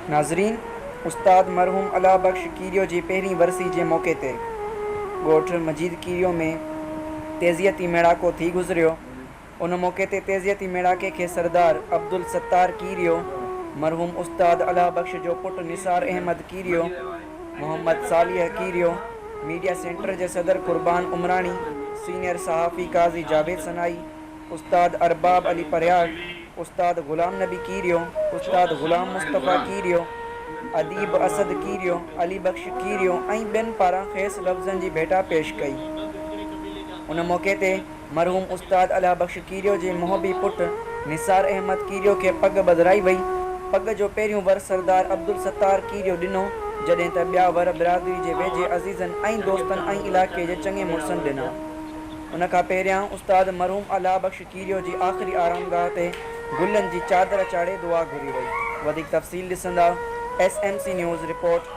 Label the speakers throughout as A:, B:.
A: ناظرين! استاد مرحوم الله بخش کيريو جي پهرين ورسي جي موقعي تي ڳوٺ مجيد کيريو ۾ تيزيء تي ميڙاڪو ٿي گذريو. ان موقعي تي تعزيتي ميڙاڪي کي سردار عبدالستار ڪيريو، مرحوم استاد الهه بخش جو پٽ نثار احمد ڪيريو، محمد صالح ڪيريو، ميڊيا سينٽر جي صدر قربان عمراڻي، سينئر صحافي قاضي جاويد سنائي، استاد ارباب علي پرهياڙ، استاد غلام نبي ڪيريو، استاد غلام مصطفيٰ ڪيريو، اديب اسد ڪيريو، علي بخش ڪيريو ۽ ٻين پاران کيس لفظن جي ڀيٽا پيش ڪئي. ان موقعي تي. مرحوم استاد الهه بخش کيريو جي محبي پٽ نثار احمد کيريو کي پڳ ٻڌرائي وئي. پڳ جو پهريون ور سردار عبدالستار کيريو ڏنو، جڏهن ته ٻيا ور برادري جي ويجهي عزيزن ۽ دوستن ۽ علائقي جي چڱي مڙسن ڏنا. ان کان پهريان استاد مرحوم الهه بخش کيريو جي آخري آرامگاهه تي گلن جي چادر چاڙهي دعا گهري وئي. وڌيڪ تفصيل ڏسندا، S M C news, report.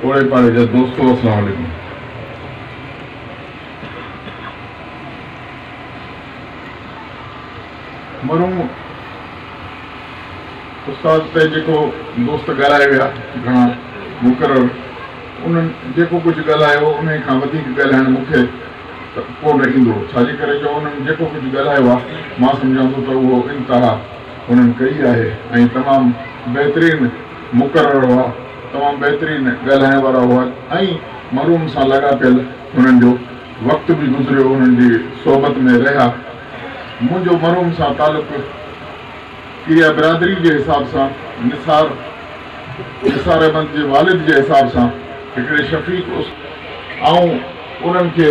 B: پوڙهي پاڙي جا دوستو اسلام عليڪم. مرحوم استاد تي جيڪو دوست ڳالهائي ويا گهڻا مقرر انهن جيڪو ڪجهه ڳالهايو انهي کان وڌيڪ ڳالهائڻ مون کي ڪونه ايندو ڇاجي ڪري جو انهن جيڪو ڪجهه ڳالهايو آهي مان سمجهان ٿو ته اهو انتها انهن ڪئي آهي ۽ تمام بهترين مقرر هئا، تمام بهترين ڳالهائڻ وارا هئا ۽ مرحوم سان لاڳاپيل هنن جو وقت به گذريو هنن جي صحبت ۾ رهيا. منهنجو مرحوم سان تعلق ڪريا برادري جي حساب سان نثار نثار احمد جي والد جي حساب سان هڪڙي شفيق اس آئون انهن کي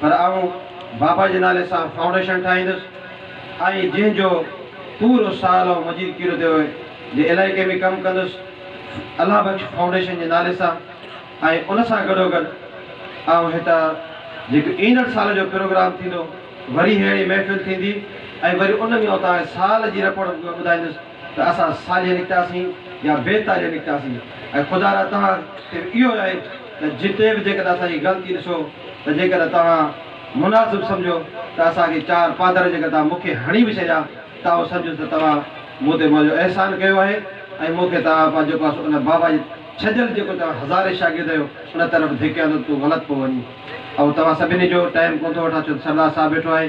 C: پر آئون بابا جي نالي سان فائونڊيشن ٺاهيندس ۽ جنهن جو پورو سال آئون مجيد ڪيروديو جي علائقي ۾ ڪم ڪندس الله بخش فائونڊيشن جي نالي سان ۽ ان سان گڏوگڏ آئون هتان جيڪو ايندڙ سال جو پروگرام ٿيندو وري ههڙي محفل ٿيندي ۽ وري ان ۾ آئون توهان کي سال جي رپورٽ ٻڌائيندس. ته اسان ساليا نڪتاسين يا بي تاليا نڪتاسين ۽ خدا را توهان تي به اهو ئي آهي ته جتي به جيڪڏهن اسان جي غلطي ڏسو ته جيڪڏهن توهان مناسب سمجهو ته اسان کي چار پادر جيڪڏهن توهان مون کي هڻي به ڇڏيا ته آئون سمجهندس ته توهان مون تي منهنجو احسان ڪيو آهي ۽ مون کي توهان پنهنجو جيڪو آهي ان بابا جي ڇڏيل جيڪو توهان هزارين شاگرد آهيو ان طرف ڌڪيا اٿو ته تون غلط پيو وڃين آئون توهان سڀني جو ٽائيم ڪونه ٿو وٺان ڇو ته سردار صاحب ويٺو آهي.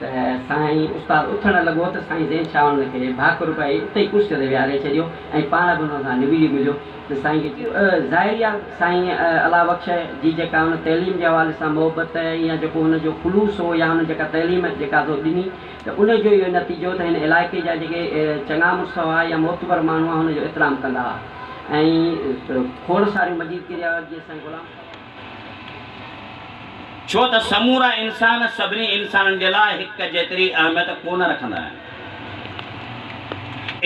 D: ته سائين استاد اٿڻ لڳو ته سائين زين شاهه ان کي ڀاڪر پئي اتي ئي ڪرسيء تي ويهاري ڇڏيو ۽ پاڻ به ان سان نبجي مليو ته سائين کي چيو ظاهري آ سائين الله بخش جي جيڪا هن تعليم جي حوالي سان محبت يا جيڪو هن جو خلوص هو يا هن جيڪا تعليم جيڪا سو ڏني ته ان جو اهو نتيجو ته هن علائقي جا جيڪي چڱا مڙس هئا يا معتبر ماڻهو هئا هن جو احترام ڪندا هئا ۽ کوڙ ساريون مجيد ڪريا جيئن سائين غلام
E: ڇو ته سمورا انسان سڀني انسانن جي لاء هڪ جيتري اهميت ڪو نه رکندا آهن.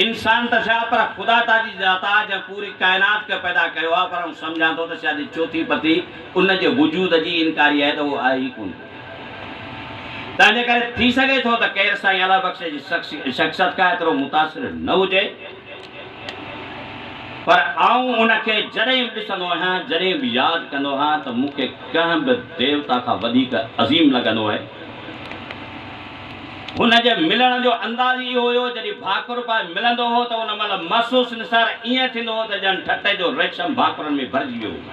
E: انسان ته ڇا پر خدا تازي ذات آ جنهن پوري ڪائنات کي پيدا ڪيو آ پر آئون سمجهان ٿو ته شايد هي چوٿين پتي ان جي وجود جي انڪاري آهي ته هو آهي ئي ڪونه. تنهنجي ڪري ٿي سگهي ٿو ته ڪير سائين الله بخش جي شخصيت کان ايترو متاثر نه هجي. پر آئون ان کي جڏهن به ڏسندو آهيان، جڏهن به ياد ڪندو آهيان ته مون کي ڪنهن به ديوتا کان وڌيڪ عظيم لڳندو آهي. هن جي ملڻ جو انداز اهو هيو، جڏهن ڀاڪر پائي ملندو هو ته ان مهل محسوس نثار ائين ٿيندو هو ته ڄڻ ٺٽي جو ريشم ڀاڪرن ۾ ڀرجي ويو هجي.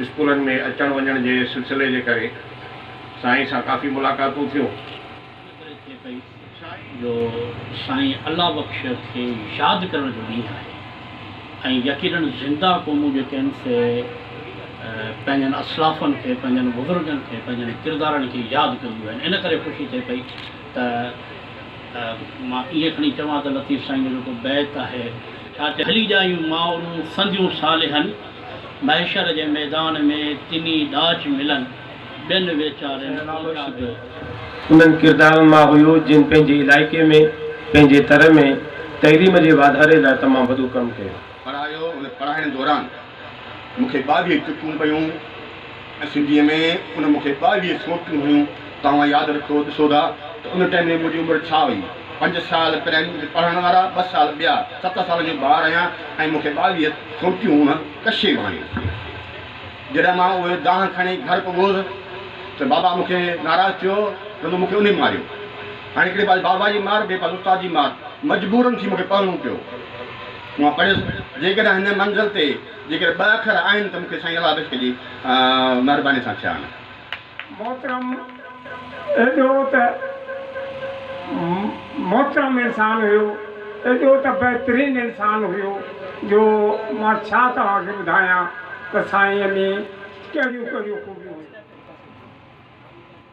C: اسڪولن ۾ اچڻ وڃڻ جي سلسلي جي ڪري سائين سان ڪافي ملاقاتون ٿيون. ان ڪري ٿئي پئي
F: جو سائين الله بخش کي ياد ڪرڻ جو ڏينهن آهي ۽ يقينن زنده قومون جيڪي آهن سي پنهنجن اسلافن کي پنهنجن بزرگن کي پنهنجن ڪردارن کي ياد ڪنديون آهن ان ڪري خوشي ٿئي پئي ته مان ائين کڻي چوان ته لطيف سائين جو جيڪو بيت آهي. ڇا ته هلي ڄائيون مائرون سنديون صالحن. محشر جي ميدان ۾ تني ڏاج ملن، ٻين ويچارين اوچا ڪيو. انهن
C: ڪردارن مان هيو جن پنهنجي علائقي ۾ پنهنجي تر ۾ تعليم جي واڌاري لاء تمام وڏو ڪم ڪيو. پڙهايو، ان
G: پڙهائڻ دوران مون کي ٻاويهه چڪون پيون. سنڌيء ۾ ان مون کي ٻاويهه سوٽيون هيون. توهان ياد رکو، ڏسو ٿا ته ان ٽائيم ۾ منهنجي عمر ڇا هئي. پنج سال پرائمري پڙهڻ وارا، ٻه سال ٻيا، ست سالن جو ٻار آهيان ۽ مون کي ٻاويهه سوٽيون هيون، ڪشي به هيون. جڏهن مان اهي دانهن کڻي گهر پڳوس ته بابا مون کي ناراض ٿيو، چوندو مون کي انهي ماريو. هاڻي هڪڙي پاسي بابا جي مار، ٻئي پاسي استاد جي مار، مجبورن ٿي مون کي پڙهڻو پيو. مان پڙهيس، جيڪڏهن هن منزل تي. جيڪڏهن ٻه اکر آهن ته مون کي سائين علاوش ڪجي مهرباني سان ٿيا آهن. محترم
H: ايڏو ته محترم انسان هيو ايڏو ته بهترين انسان هيو جو مان ڇا توهان کي ٻڌايان ته سائينء ۾ ڪهڙيون ڪهڙيون خوبيون هيون.